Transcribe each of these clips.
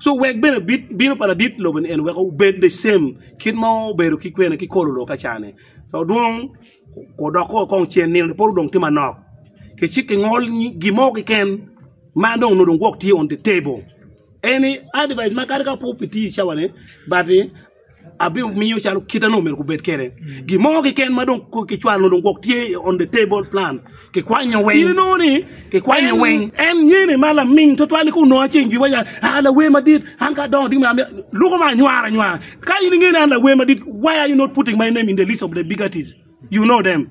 Co wek bene bit bino pa ladit lobo ni en weko bed the same kit ma obedo ki kwene ki kolo loka ca ni co dwong ko dok ko kong cen nino ni poro dong tye manok ki cit ki ngol gi mo ki ken ma dong onongo dong gwok tye on the table any advice ma kadi ka po pi tir cawa ni but ni abimiyo calo kite onongo myero gubed kwede. Gin mo keken ma dong ko- kicwalo dong gwok tye on the table plan. Kikwanyo weng. In inongo ni kikwanyo en- weng. En nyene ma laming twatwal ni kunongo aceng jwiba ya ah lawer madit an ka adongo ding ma amyero luko ma anywara anywara. Ka in ingene an lawer madit why are you not putting my name in the list of the big artists? You know them.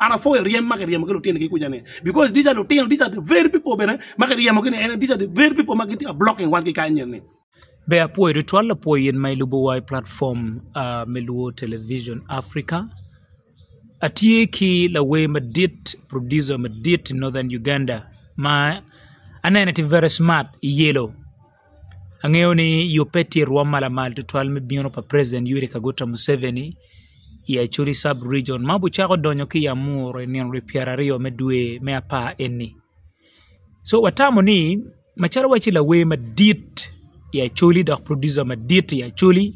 An apwoyo ryem ma kiryemo ki lutini ki kuca ni because these are lutino these are the very people bene ma kiryemo gi ni ene these are the very people ma gitye blocking wan ki kany eni. Ber apwoyo tutwal lapwony in ma ilubo wa i platform me luo television Africa. Atye ki lawer madit producer madit i northern Uganda ma anene tye very smart i yelo. Angeyo ni yubbe tye i rwom ma lamal tutwal me bino pa president Yoweri Kaguta Museveni i Acholi Sub Region ma obucako donyo ki i Amuru i nino lwe pyera aryo me dwe me apar eni. So watamo ni macalo watye lawer madit i Acholi dok producer madit i Acholi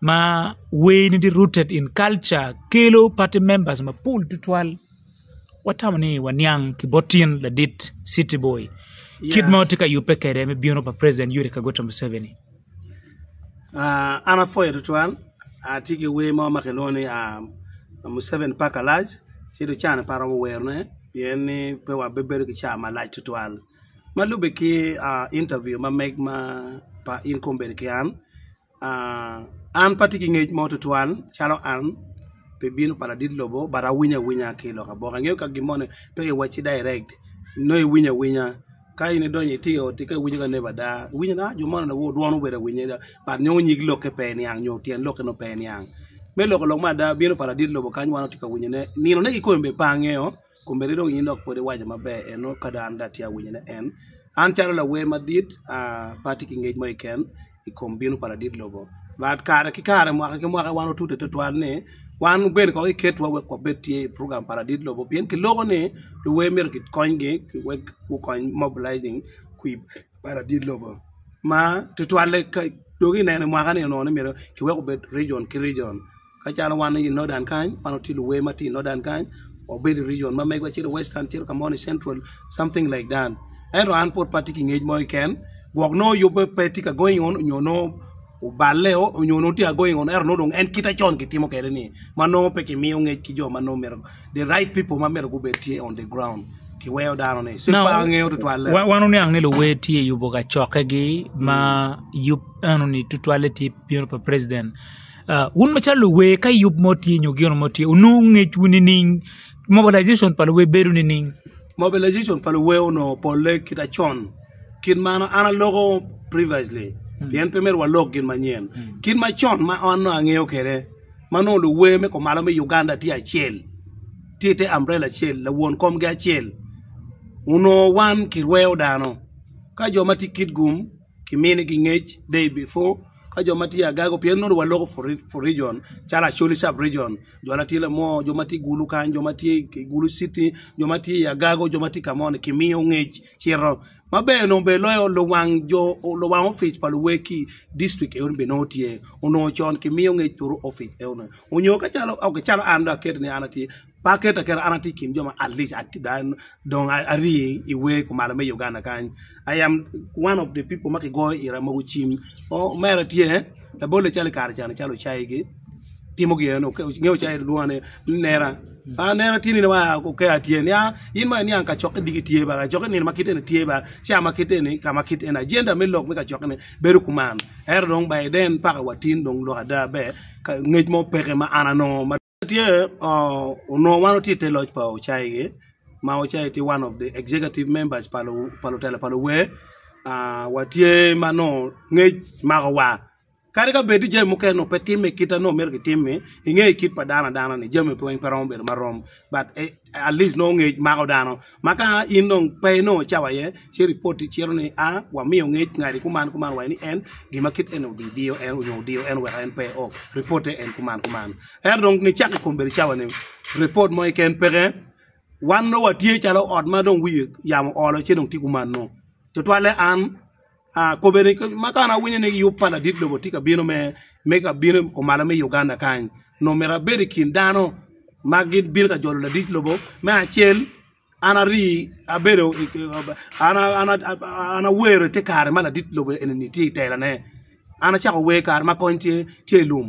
ma way ne tye rooted in culture kelo party members mapol tutwal watamo ni waniang ki bot tyen ladit city boy kit ma watye ka yubbe kwede me bino pa president Yoweri Kaguta Museveni. An apwoyo tutwal atye ki wer mo ma kilwongo ni Museveni pack a lunch ci dong caa ni pe aromo werone pien ni pe wabedo ki caa malac tutwal ma lubbe ki interview ma meg ma pa in kong bedo ki an. An pe atye ki ngec mo tutwal calo an pi bino pa ladit lobo but awinyo awinya ki lok aboka ingeyo ka gin moni pe kiwacci direct nongo iwinyo awinya ka in idonyo itye i ot-ti ka iwinyo ka neighbor dar iwinyo ni jo moni onongo dwon obedo awinya adada but nongo nyig lokke pe niang nyo tyen lokke nongo pe niang me loko lok ma ada bino pa ladit lobo kany wan watye ka winyone ninone kikome bene pe angeyo Kombeddi dong in dok pwod iwaco maber en nongo ka dong an dong atye ka winyo ne en. An calo lawer madit pe atye ki ngec mo keken i kom bino pa ladit lobo but kare ki kare mwaka ki mwaka wan watute tutwal ni wan bene kong iketwa wek wabed tye i program pa ladit lobo pien kiloko ni luwer myero kikonygi wek gukony mobilizing kwir pa ladit lobo ma tutwalle dong ineno i mwaka ni onongo ni myero kiwek obed rijon ki rijon. Kacalo wan i Nodan kany, wan watye luwer ma tye i Nodan kany, wabedo i region ma megwa calo Western cito ka mo ni Central something like that. Ento an pud pe atye ki ngec mo keken gwok nongo yubbe pe tye ka going on nyo nongo oballeo nyo nongo tye ka going on ento nongo dong en kite con kitimo kwede-ni ma nongo pe kimiyo ngec ki jo ma nongo myero the right people ma myero gubed tye on the ground kiweyo dano-ni. So pe angeyo tutwalle. Wa- wan wuniang ni luwer tye yubo kacokkegi ma yub enoni tutwalle tye bino pa president Wun macalo luwer ka yub mo tye nyo gino mo tye wunongo ngecwu nining? Mobilization pa luwer bedo nining? Mobilization pa luwer onongo polle kit acon kit ma an aloko previously pien pe myero walok gin manyen kit macon ma an nongo angeyo kwede ma nongo luwer me kumalo me Uganda tye acel tye ite ambrela acel lawon komgi acel onongo wan kirweyo dano ka jo ma tye Kitgum kimini gi ngec day before ka jo ma tye agaga pien nongo wa loko for region calo acholi sub region jo ma tye lamo jo ma tye i gulu kany jo ma tye i gulu citi jo ma tye i agago jo ma tye ka moni kimiyo ngec cito ma ber dong ber loyo luwang jo luwang opic pa luwegi dictrict eno bene nongo tye onongo con kimiyo ngec turu opic eno ni onyo ka calo an dong aketi ni an atye Pe aketo aketa, an atye i kin jo ma alic adada dong ari i wer kumalo me Uganda kany, I am one of the people ma kigoyo ira mogo cim, omera tye labolle calo i kare cani calo ocayi gi timo gin eno nge ocayi lwonge ni nera, nera tye nino ma aa oker aye tye nia in ma iniang kacokke diki tye ba kacokke nino ma kite ni tye ba ca ma kite ni ka ma kite ni agenda me lok me kacokke ni bedo kuman ento dong by then paka wa tin dong lok ada ber ngec mo peke ma an anongo Tye onongo wan watye i te loc pa Ocaigi ma Ocaigi tye one of the executive members pa lutela pa luwer watye ma nongo ngec mako wa kadi ka bed ni jami mukene nongo pe timme kit ma nongo myero kitimmi ingeyo kit pa dano adana ni jami weng pe romo bedo marom but at least nongo ngec mako dano Ma ka in dong pe inongo cawa iye, ci ripoti cito ni a wamiyo ngec ngadi kuman kuman wa ni en gima kit eni obidiyo en nyo odiyo en wek en pe o ripote en kuman kuman. Ento dong nicak i kom bedo cawa ni ripot mo keken peke, wan dong watye calo ot ma dong wiye yamo oolo ci dong tye kuman nongo tutwalle an Kome ni, ma ka an awinyo ni yub pa ladit lobo tye ka bino me ka bino i komalo me Uganda kany, nongo myero abed i kin dano ma gibino ka jolo ladit lobo. Me acel, an ari abedo an awero ite kare ma ladit lobo eni tye i telane, an acako wer kare ma kony tye i lum.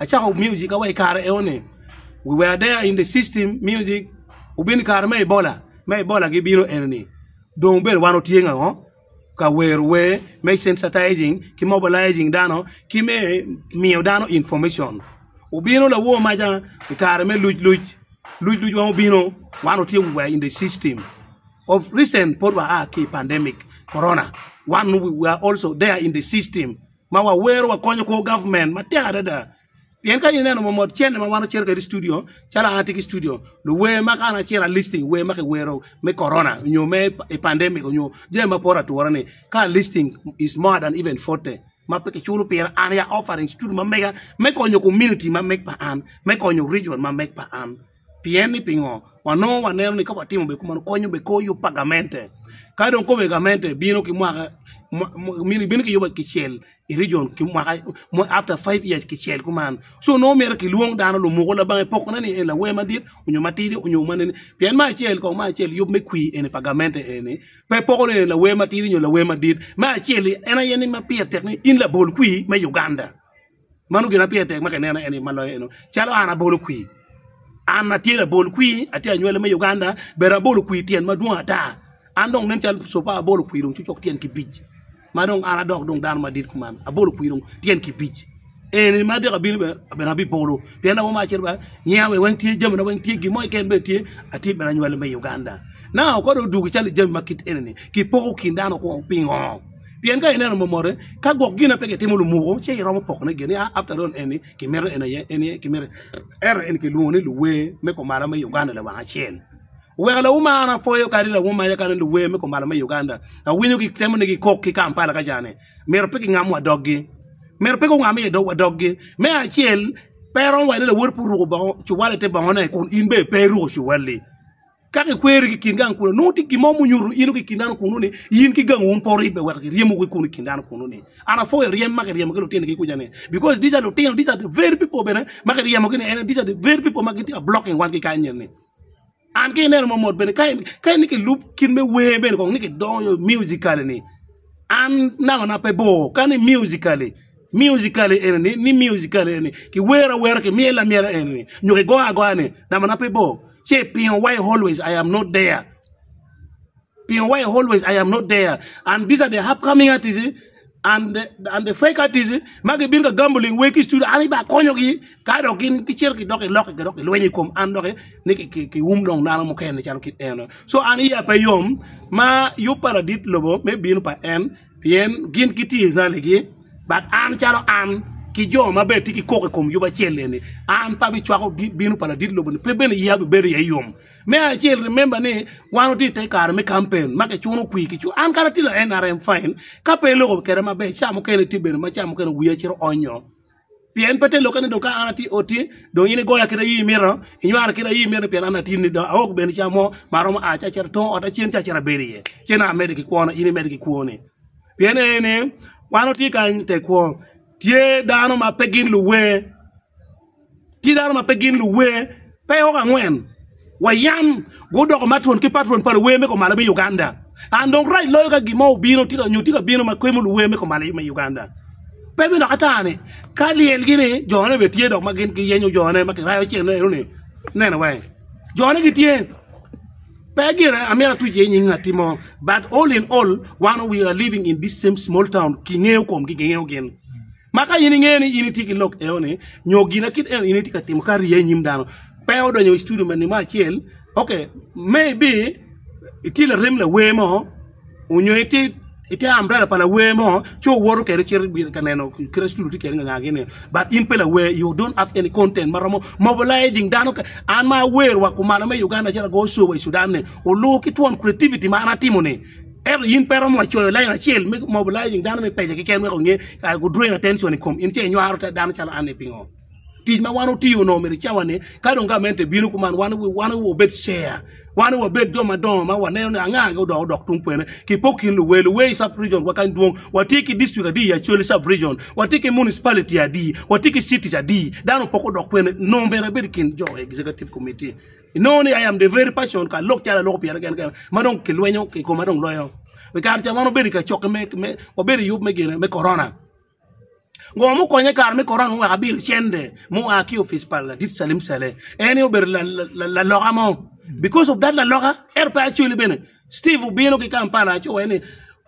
Acako music awa i kare eo ni we were there in the system music obino i kare me Ebola me Ebola gi bino eni ni dong obedo wan otye ango ka wero wer me sensitizing ki mobilizing dano ki me miyo dano information obino lawo maca i kare me luc luc luc luc wa obino wan otye we were in the system of recent pud wa a ki pandemic corona wan we are also there in the system. ma wawero wakonyo kor government matek adada pien ka in ineno momot cene ma wan wacito kwede i studio calo an atye ki studio luwer ma kara acito a listing wer ma kiwero me korona nyo me pandemic nyo jami ma poto ature ni ka a listing is more than even forty ma pe kiculo pire an aye a offering studio ma mega me konyo community ma meg pa an me konyo region ma meg pa an Pien ni pingo? Wanongo waneno ni ka watimo bene kumeno konyo bene kor yub pa gamente. Ka dong kobbe gamente bino ki mwaka bino ki yubbe kicel i region ki mwaka after five years kicel kuman so nongo myero kilwong dano lumuku labange pokone ni en lawer madit onyo matidi onyo mene ni pien me acel kong me acel yub me kwir eni pa gamente eni pe poko ni en lawer matidi onyo lawer madit me acel-li en aye ni ma pire tek ni in labol kwir me Uganda. mano gin ma pire tek ma ki neno eni ma loyo eno calo an abolo kwir an atye labol kwir atye anywale me Uganda but abolo kwir tyen ma dwong ata an dong nen calo co pa abolo kwir dong cok tyen kibic ma dong an adok dong dano madit kuman abolo kwir dong tyen kibic eni ma atyeko abino bene abino abibolo pien abo ma acito ba nyiya wa weng tye jami na weng tye gin mo keken bene tye atye bene anywale me Uganda naka ko dong odwogo calo jami ma kit eni ni kipoko kin dano kong pingo Pien ka ineno momote, ka gwok gin na pe kitimo lumuko, ce iromo pokone gin ni, a after all eni kimito en aye, eni aye kimito. Ento eni kilwongo ni luwer me kumalo me Uganda lawang acel. Oweko lawuma an apwoyo kadi lawuma aye kadi luwer me kumalo me Uganda. Awinyo gitemo ni gikok ki Kampala ka ca ni myero pe gingamwa doggi. Myero pe gungamme iye dogwa doggi. Me acel, pe romo wa ni lawoti pe oruko bongo cuwali ite bongone kun in bene pe iruko cuwali. Ka kikweri ki i kin gang kunnu, nongo tye gin mo munyuto in ki i kin dano kunnu ni in ki gangi wun pe wuribbe wek kiryemo ki kunu i kin dano kunnu ni an apwoyo ryem ma kiryemo ki lutini-gi kuca ni because these are lutino, these are the very people bene ma kiryemogi ni ene, these are the very people ma gitye ka blocking wan ki kany eni. An ka ineno mamot bene ka in ka in ni kilub kit me wer bene kong ni kidonyo musically ni an nangona pe bor ka ni musically Musically enini ni musically enini ki wero awera ki myelo amyela enini nyo ki goyo agoya ni nama na pe bor ce i pingo why always I am not there pingo why always I am not there and this are the upcoming artist and the and the fake artist ma gi bino ka gambling wai ki studio an ibala konyo gi ka dok gin ki cito ki dok ki lok dok ki lwenyo ikom an dok ni ki wum dong dano mukene calo kit eno so an iya pe yom ma yub pa ladit lobo me bino pa en Pien gin gitye i raligi, but an calo an ki jo ma bene tye ki koko i kom yub acel eni, an pe abicwako bino pa ladit lobo-ni, pe bene iya bibedo iye yom. Me acel, remember ni wan watye i te kare me kampen ma kicuno kwi, an kadi atye la NRM fine, ka pe iloko kwede maber ca mukene tye bene ma ca mukene wiya cito onyo. Pien pe te lokke ni dong ka an atye i ot-ti, dong in igoya kit aye imito, inywara kit aye imito, pien an atidi ni, dong aok bene ca mo ma aromo a ci acito i tung ot acen ci acito abedo iye, ci nongo amedde ki kwona, in imedde ki kwoni. Pien aye ni, wan watye kany i te kwo, tye dano ma pe gin luwe. Tye dano ma pe gin luwer pe oko angwen wa yam gudoko matron ki patron pa luwer me komalo me Uganda and dong rac loyo ka gin mo obino nyo tye ka bino ma kwemo luwer me komalo me Uganda pe me dok ata ni ka lyel gi ni jo ne bene tye dok ma gin giyenyo jo ne ma kirayo cen eno ni neno wai jo ne gitye pe gin amyero atuc iye nying ngati mo but all in all wan we are living in this same small town kingeyo komgi kingeyo gin Ma ka in ingeyo ni in itye ki lok eno ni nyo gina kit eno in itye ka timo ka riya inyim dano pe odonyo i studio me nimo acel ok may be itye larem lawer mo onyo itye ite ambrela pa lawer mo ci owoto kwede cito bino ka neno kite studio tye kwede nganga gini but in pe lawer you don't have any content ma romo mobilizing dano ka an ma awer wa kumalo me Uganda acalo ago show wa i Sudan ni olu ki twon creativity ma an atimo ni Ento in pe iromo wa coyo lain acel me mobilizing dano me pece keken wek onge kare gu drawing attention i kom in ce inywaro ta dano calo anni pingo? Tic ma wan otiyo no omyero icawa ni ka dong gamente bino kuman wan wan wu obed share wan wu obed jo madongo ma waneno ni anga anga odok odok tung kwene ki po kin luwe luwe i sub region wa kany dwong watye ki district adi i Acholi sub region watye ki municipality adi watye ki cities adi dano poko dok kwene no omyero abed i kin jo executive committee Inongo ni I am the very person ka lok calo aloko pyere kene kene ma dong kilwenyo ki koma dong loyo. I kare ca wan wabedo i kacokke me, me wabedo i yub me gine me korona. Ngo mukonye kare me korona muweko abiro cente mua ki opic pa ladit Salim Saleh. En aye obedo la- la- la- laloka mo. Because of that laloka ento pe acoli bene. Steve obino ki Kampala aco wai ni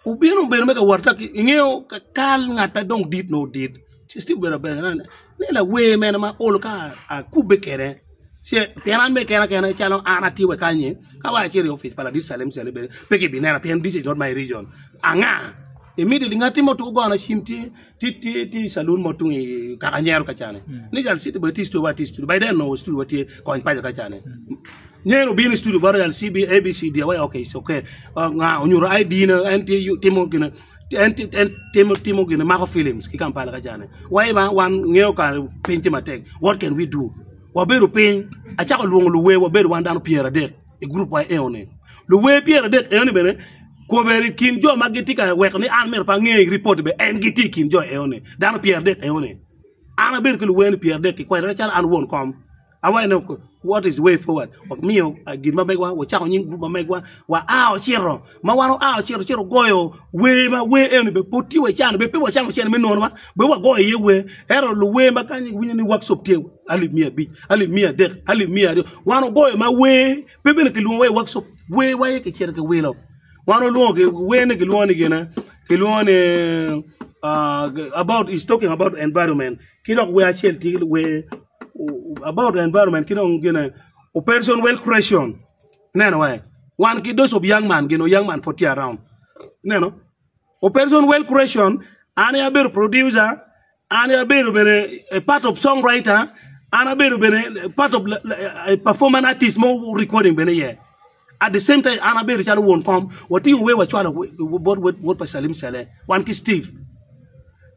Wubino bedo me ka wot i ngeyo ka kal ngat ma dong dit nongo dit ci Steve obedo abedo ni ne lawer mene ma ol ka akubbe kede ce pien an me kena kena calo an atye wa kanyi ka wa acito i opic pa ladit calem cale bene pe ki bi nena pien this is not my region anga imito ngati mo tuku gona cim tye Tye tye calun mo tung i kaka nyero ka cane mm. ni jal city boy tye studio wa tye studio by then no studio wa tye kony paja ka cane mm. nyero bini studio baro jal cb abc dia wa okay it's okay uh, nga onyuro id na en tye timo gina en timo timo gina mako films ki kampala ka cane wa iba wan ngeo ka piny tye matek what can we do wabedo piny acako lwongo luwe wabedo wan dano pyera dek i gurup wa eoni. Luwer pyer adek eoni bene koberi i kin jo ma gitye ka weko ni an myero pe ange i ripot be en gitye i kin jo eoni dano pyer adek eoni. An abedo ki luwer ni pyer adek ki kwena calo an won kom awaco ne what is way forward wamiyo gin ma megwa wacako nying gurup ma megwa wa a ocito ma wan oa ocito cito ogoyo wer ma wer eno bene pud tye wa i can bene pe wacamo cene me nonwa bene wagoyo iye wer ento luwer ma kany iwinyo ni workshop tye alip miya abic alip miya adek alip miya aryo wan ogoyo ma wer pe bene kilwongo wa i workshop wer wa aye kicito kiwilo wan olwongo gin wer ni kilwongo ni gin kilwongo ni about is talking about environment ki dok wer acel tye wer about environment ki dong gin operation well creation Ineno ee? Wan ki those of young man, geno young man pud tye around. Ineno? Operation Well Creation, an aye abedo producer, an aye abedo bene a part of songwriter, an abedo bene a part of la- la- a performance artist mo recording bene iye. At the same time, an abedo calo won kom, watingo wer wacwalo bot wod wod pa Salim Saleh, wan ki Steve.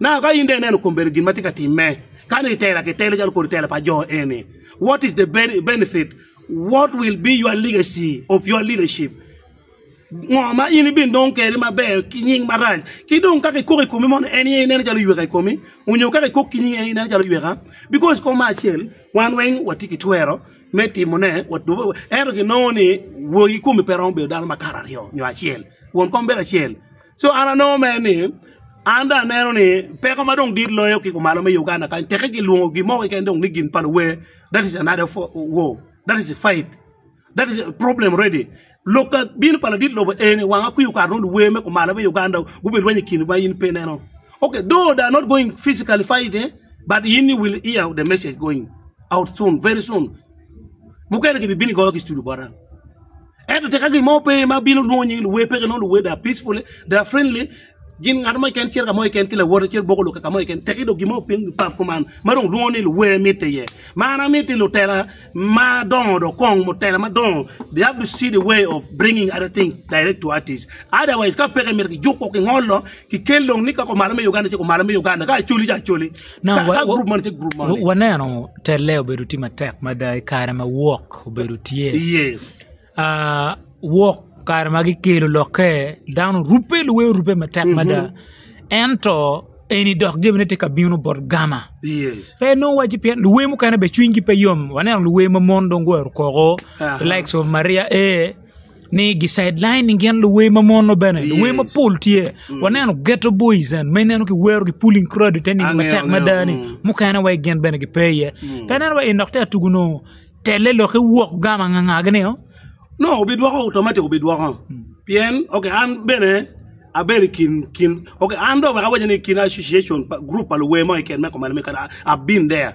Now ka in dong ineno kom bedo gin ma tye ka timme, ka ni itela ki telo calo kodi tela pa jo eni, what is the ben- benefit? What will be your legacy of your leadership? Ngo ma in ibin dong keri maber ki nying marac? Ki dong ka kikok i komi mono en aye ineno calo yweka i komi? Onyo ka kikok ki nyingi en aye ineno calo yweka? Because kom ma acel wan weng watye ki twero me timone, wa- dwobo- ento ginongo ni wor ki komi pe romo bedo dano makato aryo nyo acel, won kom bedo acel. Co an anongo mere ni an dong aneno ni peko ma dong dit loyo ki kumalo me Uganda kany teke ki lwongo gin mo keken dong ni gin pa luwer that is another war that is fight that is problem ready lok ka bino pa ladit lobo eni wang akwiyo okato nongo luwer me kumalo me Uganda gube lweny i kine ma in pe ineno okay though they are not going physically fighting but in you will hear the message going out soon very soon mukene ki bi bino ki goyo ki studu bota. Ento tika gin mo pe ma bino lwongo nying luwe? Peke nongo luwe they are peaceful, they are friendly. Gin ngat mo keken cito ka mo keken ki lawote cito boko lok ka mo keken teki dong gin mo piny pap kuman ma dong lwongo ni luwe mitte iye. Ma an amitti lutela ma dongo dong kong mutela ma dongo they have to see the way of bringing other things direct to artists. Otherwise ka peke myero kijuk woko kingolo kikel dong ni ka kumalo me Uganda ci kumalo me Uganda ka acoli ci acoli. Waneno telle obedo tye matek mada i kare ma wok obedo tye iye wok kare ma kikelo lokke dano orubbe luwe orubbe matek mada ento eni dok jami tye ka bino bot gama pe nongo waci pien luwe mukene bene cwinygi pe yom waneno luwe ma mon dong guwero koko the likes of Maria Aye. ni gi sideline gin luwer ma mono bene luwer mapol tye waneno geto boys and ma ineno ki wero ki pulling crowd ite nino matek mada ni mukene wa gin bene gipe iye pe ineno wa en dok tye ka tugu nongo telle lok ki wok gamo anganga gi nio nongo bidwoko automatic bidwoko pien ok an bene abedo i kin kin ok an dong wek awac ni i kin association pa group pa luwer mo keken me koma lame kadi abin there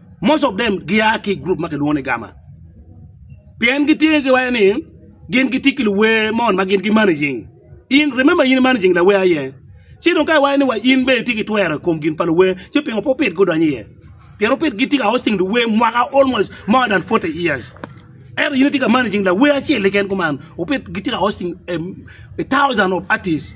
Most of them gia ki i group ma kilwongo ni Gama pien gitye ki wacce ni gin gitye ki luwer mon ma gin gimanaging. In remember in imanaging lawer aye ci dong ka iwaco ni wa in bene itye ki twero i kom gin pa luwer ci pingo pe wupit gudonyo iye pien wupit gitye ka hosting luwer mwaka almost more than 40 years ento in itye ka managing lawer acel keken kuman wupit gitye ka hosting a, a thousand of artists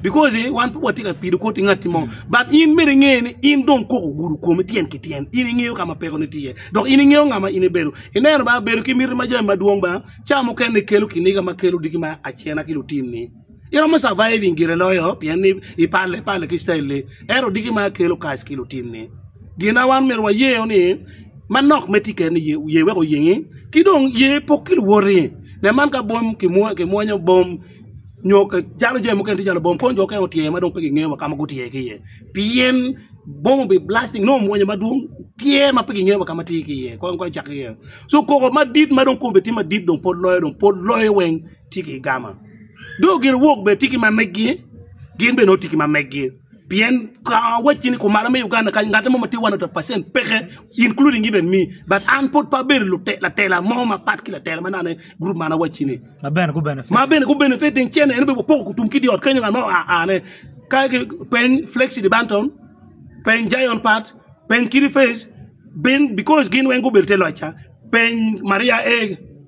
Because wan pe watye ka pido koti ngatti mo, but in myero inge ni in dong kok ogudo komi tyen ki tyen, in ingeyo ka ma pekoni tye, dok in ingeyo nga ma in ibedo. Ineno ba, bedo ki miti ma jami madwong ba, ca mukene kelo kiniga ma kelo diki ma acena ki lutinni. Iromo surviving gire loyo pien ni ipale pale ki style-li, ento diki ma kelo kac ki lutinni. Gin ma wan myero wayeo ni, manok me ticce ni ye wek oyengi, ki dong ye pok ki luwoti. Nen man ka bom kimwonyo bom. nyo calo jami mukene tye calo bom kono jo mukene otyer ma dong pe gingeyo wa ka ma gutyer ki iye pien bom obi blasting nongo omwonyo madwong tyer ma pe gingeyo wa ka ma tye ki iye kong kong icak ki iye so koko madit ma dong kome tye madit dong pol loyo dong pol loyo weng tye ki i gama dong gin wok bene tye ki ma megi gin bene nongo tye ki ma megi Pien kong awacci ni kumalo me Uganda kany ngatte mo ma tye 100% peke including even me but an pud pe abedo lute- latela mo mapat ki latela ma nano gurup man awacci ni ma bene gu benefit ma bene gu benefit ding cene en bene wapoko kutum ki di ot kenyo ngat mo a ane ka ki peny Flexi di Banton peny Jayon Pat peny Kidi Face bin because gin weng gubedo te loc ca peny Maria A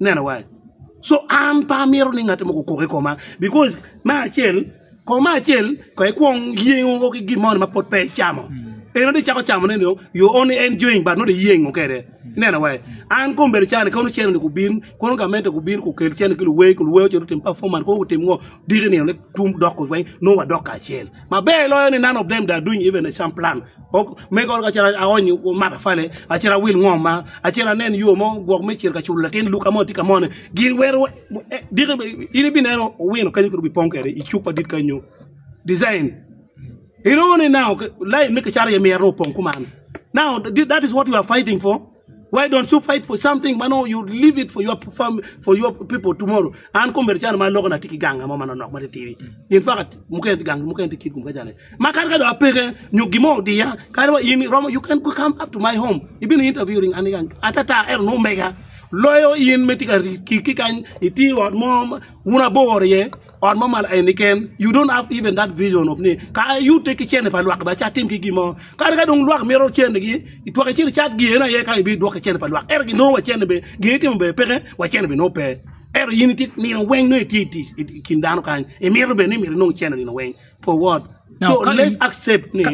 Ineno wa? So an pe amito ni ngat mo okok i koma because me acel kong me acel kong ikwong yengo ki gin moni ma pud pe icamo. Eno dong icako camo ne dong you only enjoying but not iyengo kede. Ineno wa? An kong bedo cani kono cene ni gubin kono gamente gubin gukel cene ki luwer ki luwer ocito otim performance kono gutim ngo diki nino ni tum dok weng nongo wadok kacel. Maber loyo ni none of them that doing even a sham plan. Ok, me gol ka cira aony matafale, acira awil ngom ma, acira anen yo mo gwok me cir ka culo latin luka mo tye ka mone. Gin wero eh, diki in ibineno owino kany kuru bipong kede i cuk madit kany nyo design. Inongo ni now line me kicata iye myero nongo opong kuman. Now that is what you are fighting for. Why don't you fight for something ma nongo you leave it for your family, for your people tomorrow. An komere cana ma aloko na tye ki ganga mo ma nonok ma tye tidi. In fakat mukene tye gang mukene tye kit kum ka cana. Ma kadi ka do apeke nyo gin mo odiya kadi wa in romo you can come up to my home. Ibino interviewing an gang atata ero nongo mega loyo in me tye ka rit ki kany iti ot mo ma un aboro iye. ot mo mal eni ken you don't have even that vision of ni ka ayute ki cene pa lwak ba ci atim ki gimo kadi ka dong lwak mito cene gi itwak icit icat giyene aye ka ibi dwok ki cene pa lwak ento gi nongo wa cene be gin itimo be peke wa cene be nongo pe ento in itye nino weng nongo itye itic i kin dano kany imito bene ni myero inong cene nino weng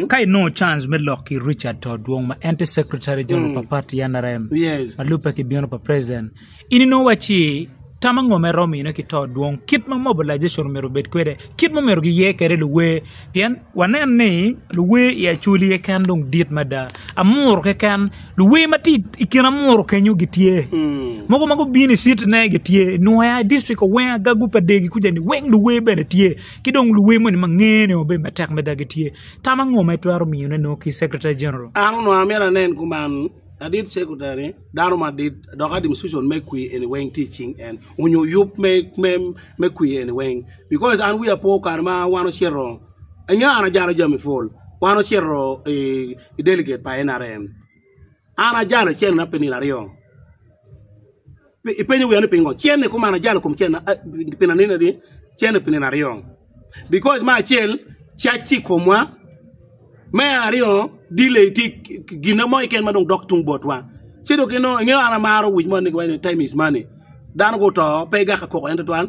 Ka inongo cans me lok ki Richard to Odwong ma en tye Secretary General pa pati NRM ma lubbe ki bino pa President, in inongo wacci tam ango ma iromo mine ki to Odwong, kit ma mobilization omyero obed kwede, kit ma omyero giye kwede luwer pien waneno ni luwer i Acholi keken dong dit mada, Amuru keken luwer ma tye i kin Amuru kenyo gitye, mogo ma gubino i city ne gitye, Nwoya, District Owengo, Agagu, Padegi kuca ni weng luwer bene tye. ki dong luwe moni ma ngene wa bedo matek mada gitye. Tam ango ma itwero miyone nongo ki Secretary General? An onongo amyero anen kuman adit Secretary ni dano madit dok administration me kwi eni weng tye i cing en onyo yub me kwi eni weng because an wiya pe o kare ma wan ocito ingeyo an ajalo jami pol wan ocito i delegate pa NRM An ajalo cen-na pi nino aryo. Ipenyo wiya ni pingo? Cen-ni kuma an ajalo kom cen-na pi nino ni cen-ni pi nino aryo. Because me acel cacce i komwa, me aryo delay tye gin mo keken ma dong dok tung botwa. Ci dong inongo ingeyo an amaro wic mo ni time is money. Dano guto pe igaka koko en tutwal.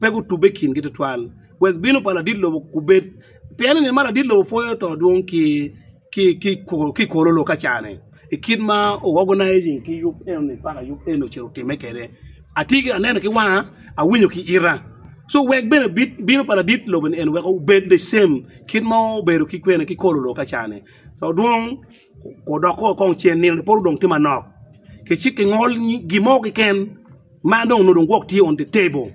pe gutubbe i kingi tutwal, wek bino pa ladit lobo gubed, pien i nino ma ladit lobo pwoyo to dwong ki i kor olok aca-ni, i kit ma ogoganizing ki yub enoni paka yub enoni ocito otimme kwede. Atye ki aneno ki wanga, awinyo ki ita. So wek bene bino pa ladit lobo-ni en wek obed the same kit ma obedo ki kor olok aca-ni. Wudok woko kong cen nino ni pol odong tye manok, ki cik ki ngol gin mo keken ma dong onongo dong gwok tye on the table.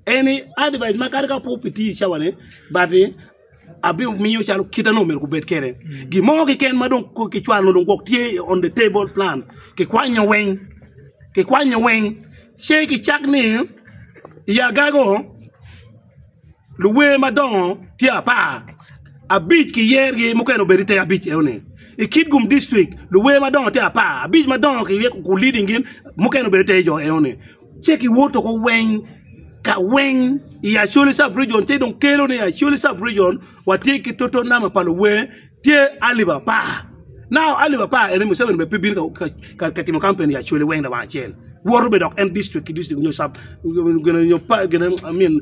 Eni advice ma kadi ka pud pe tye i cawa ni but ni abimiyo calo kit ma dong myero gubed kwede. Gin mo keken ma dong ko kicwalo onongo dong gwok tye on the table plan kikwanyo weng, kikwanyo weng ci kicak ni i agaga o luwer madongo tye apar abic ki yer gi mukene obedo ite abic eno ni i kitgum district luwer madongo tye apar abic madongo ki ryeko ku leading gin mukene obedo ite jo eno ni ce ki woto ko weng ka weng i acholi sub region ce dong kelo ni acholi sub region Watye ki toto nama pa luwer tye alip apar. Now alip apar eni Museveni bene pe bino ka, ka, ka timo campaign i Acholi weng lawang acel. Woto be dok en district ki district nyo sub gine nyo pa gine I mean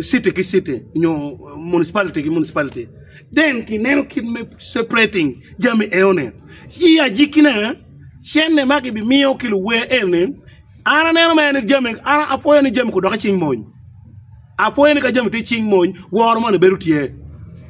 city ki city nyo municipality ki municipality. Then kineno kit me separating jami eno ni. I ajiki ne cene ma kibimiyo ki luwer eni An aneno mere ni jami, an apwoyo ni jami kudoki cing mony. Apwoyo ni ka jami tye cing mony, woro moni bedo tye.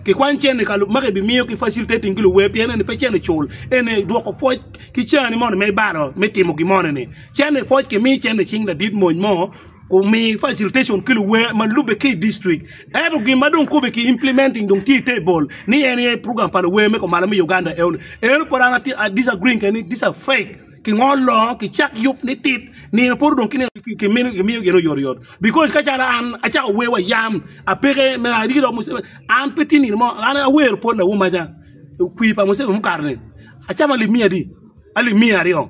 Kikwany cene ka ma kibimiyo ki facilitating ki luwe pien eni pe cene cul, eni dwoko pwoc ki cani moni me balo me timo gin moni-ni. Cene pwoc kimi cene cing ladit mony mo kumi facilitation ki luwe ma lubbe ki i distrik. Ento gin ma dong kube ki implementing dong tye i te bol ni en aye program pa luwe me kumalo me Uganda eno ni. Eno pud an ati- I disagreeing keni, these are fake. Kingo longo ki cak yub ni tit nino poto dong kinino kimiyo gin oyot oyot because ka calo an acako wer wa yam apeke me ariki dok Museveni an pe tye nino mo an awero pol awo maca kwi pa Museveni mukato ni acamo alip miya adi alip miya aryo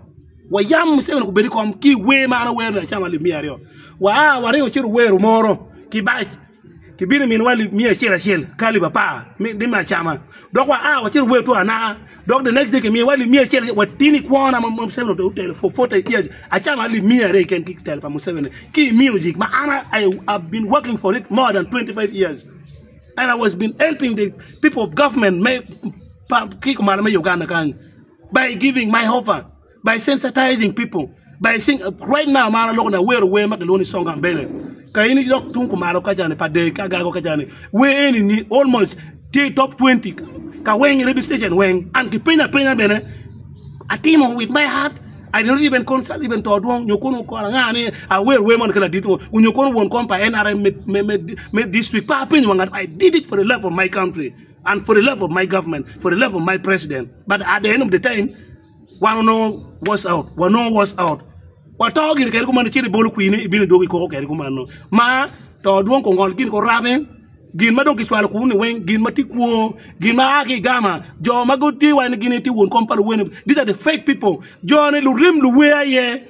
wa yam Museveni obed i kom ki wer ma an awero ni acamo alip miya aryo wa a waringo ci wawero moro kibac Kibino miniwa alip miya acel acel ki alip apar ni me acama, dok waa wacit wawer two anaka. Dok the next day kimiyowa alip miya acel acel watini kwona ma Museveni otelo for forty years acama alip miya aryo keken ki i telo pa Museveni ki i music ma an I been working for it more than twenty five years and I was been helping the people of government me ki kumalo me Uganda kany by giving my offer. by sensitizing people by sing right now ma an aloko ni awero wer ma kilwongo ni song of Bene ka in idok tung kumalo kacani pa dee agago kacani wer eni ni almost tye i top 20 ka weng i radio station weng and kipenya apenya bene atimo with my heart I did not even consult even to dwong nyo kono okona nga ni awer wer moni ki ladit ngo nyo kono won kom pa NRM me me me district pe apenyo wa ngat I did it for the love of my country and for the love of my government for the love of my president but at the end of the time wan onongo wash out wanongo wash out wato gire kede kuman icito ibolo kwine ibino idwogo ikoko kede kuman no ma to dwong kongol gin ko rabe gin ma dong kicwalo kunu ni weng gin ma tye kwo gin ma aa ki igama jo ma gitye wai ni gin aye tye won kom pa luweno these are the fake people jo ni lurim luwer aye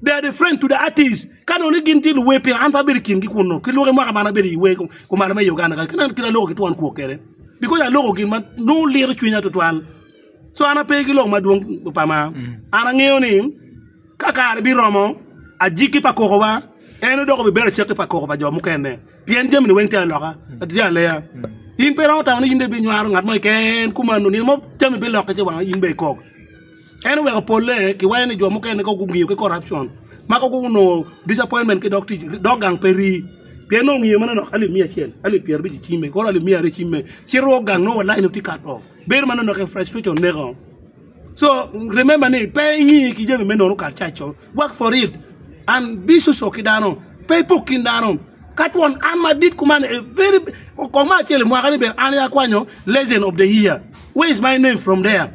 They are the friend to the artist. Ka nongo ni gin tye luwe piny, an pe abedo i kingi kunno. Ki lwoki mwaka man abedo i we kumalo me Uganda kaka kit kit aloko ki twon kwok kede. Because aloko gin ma nongo liro cwinya tutwal. So an ape ki lok madwong pa ma. An angeyo ni ka kare biromo ajiki pa koko wa en odoko bi bedo cek ki pa koko pa jo mukene. Pien jami ni weng tye aloka, tye aleya. In pe romo tamo ni in be binywaro ngat mo keken kumano nino mo jami bilokke ci wang in be ikok. En oweko polle ki wayo ni jo mukene kong gungiyo ki corruption ma kong gunongo disappointment ki dog tic dog gang pe rii pien nongo ngiyo meno nok alip miya acel alip pyer abic icimme koro alip miya aryo icimme ci rwo gang nongo wa line-ni tye cut off bedo mano nok en frustration neko so remember ni pe ingi ki jami me nono kar caco work for it and be social ki dano pe ipok kin dano ka twon an madit kuman a very kong me acel imwaka ni bene an aye akwanyo legend of the year where is my name from there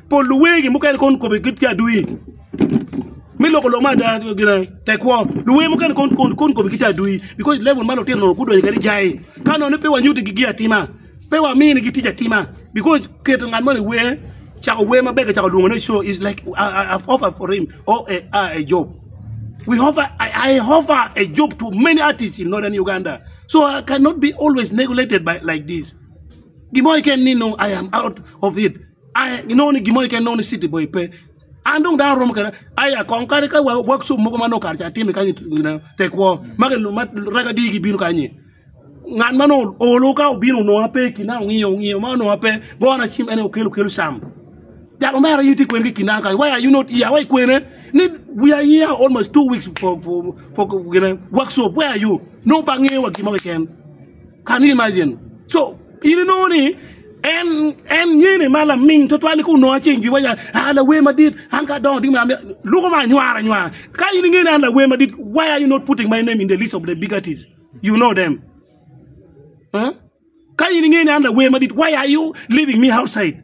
Pol luwegi mukene kon kobe gitye adwir. Me loko lok ma ada gina tekwo. Luwe mukene kon kon kon kobe gitye adwir because level ma lutino nono gudonyo kadi jai. Ka nono pe wanyuti gi atima. Pe wamini gi tic atima because keto ngat mo i wer cako wer maber ka cako lwongo ne show is like I, I, I've offered for him or a, a, a job. We offer, I, I offer a job to many artists in northern Uganda. So I cannot be always neglected by like this. Gimo iken nino I am out of it. Ai, inongo ni gin mo keken nongo ni city boy pe. An dong dano romo kena, ai akong kare ka wa workshop mogo ma nongo kare ca atime kany gina te kwo, ma ki ma raga di gi bino kany-nyi. Ngat ma nongo olo ka obino onongo an pe i kina ongiyo ongiyo ma onongo an pe gona cim en aye okelo kelo cam. Jal omera in itye kwene ki i kina kany, why are you not here, why ikwene ni we are here almost two weeks for for for gina workshop, where are you? Nongo pe angeyo wa gin mo keken. Can you imagine? So in inongo ni en en nyene ma laming tutwal ku nongo aceng giwa ya ah lawer madit an ka dongo ding ma luko ma nywara nywara ka in ingene an lawer madit why are you not putting my name in the list of the big artists you know them huh? ka in ingene an lawer madit why are you leaving me outside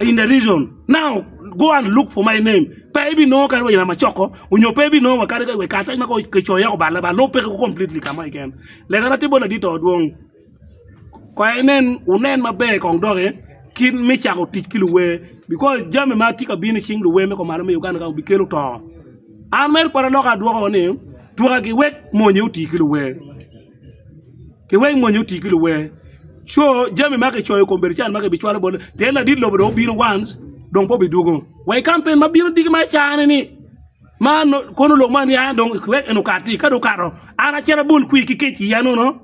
in the region now go and look for my name pe i bi nongo kadi wa i Lamacoko onyo pe i bi nongo wa kadi wa i Karatac ma kong kicoyo iye kubal laba lub peke completely ka mo keken leka na tye bot ladit to dwong kono inen wunen maber kong doki kit me cako tic ki luwer because jami ma tye ka bino i cing luwer me kumalo me Uganda kany bikelo to an mere pwod aloko adwoko ni twagi wek mony aye oti ki luwer. ki wek mony oti ki luwer co jami ma kicoyo i kom bedo can ma kibicwalo bot pien ladit lobo dong obino once dong pe obidwogo wa i kampen ma bino diki ma icane ni ma kono lok ma niang dong wek en okati ka dong okato an acito abol kwir ki kec i iya nono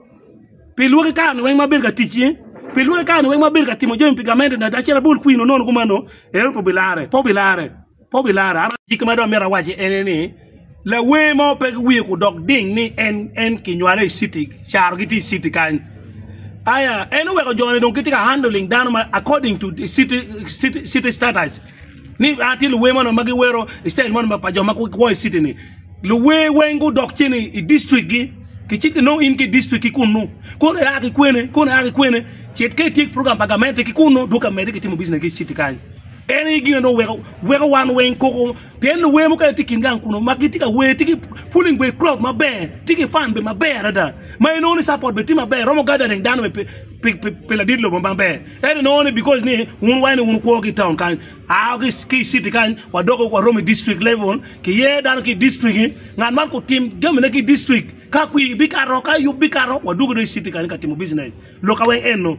pi lwaki kare ni weng ma abedo ka ticci pi lwaki kare ni weng ma abedo ka timo jami pi gamente na dong acito abol kwir nono kumeno en aye pe obilarre pe obilarre. Kop i lara. An jiki ma dong amito awaci ene ni lawer mo pe ki wiye kudok ding ni en en kinywale i city caro gitye i city kany. Aya en oweko joni dong gitye ka handling dano ma according to the city city city status ni a tye luwer mono ma giwero i style mono pa jo ma gwo i city ni luwer weng gudok ceni i district gi kicit ki nongo in ki i district ki kunnu kono ia ki kwene kono ia ki kwene cit ka itye program pa gamente ki kunnu dwoki amedi kitimo business ki i city kany. En aye gin ma weko wan weng koko pien luwer mukene tye i kin gang kunu ma gitye ka wer tye ki pulling bene crowd maber tye ki fan bene maber adada ma inongo ni support bene tye maber romo gathering dano bene pi ladit lobo maber ento inongo ni because ni wun wai ni wun wukwo ki i town kany a wa ki i city kany wadoko waromo i district level kiyer dano ki i district-ti ngat man otim jamine ki i district ka kwir bikato ka yub bikato wadwogo dong i city kany ka timo business loka weng eno.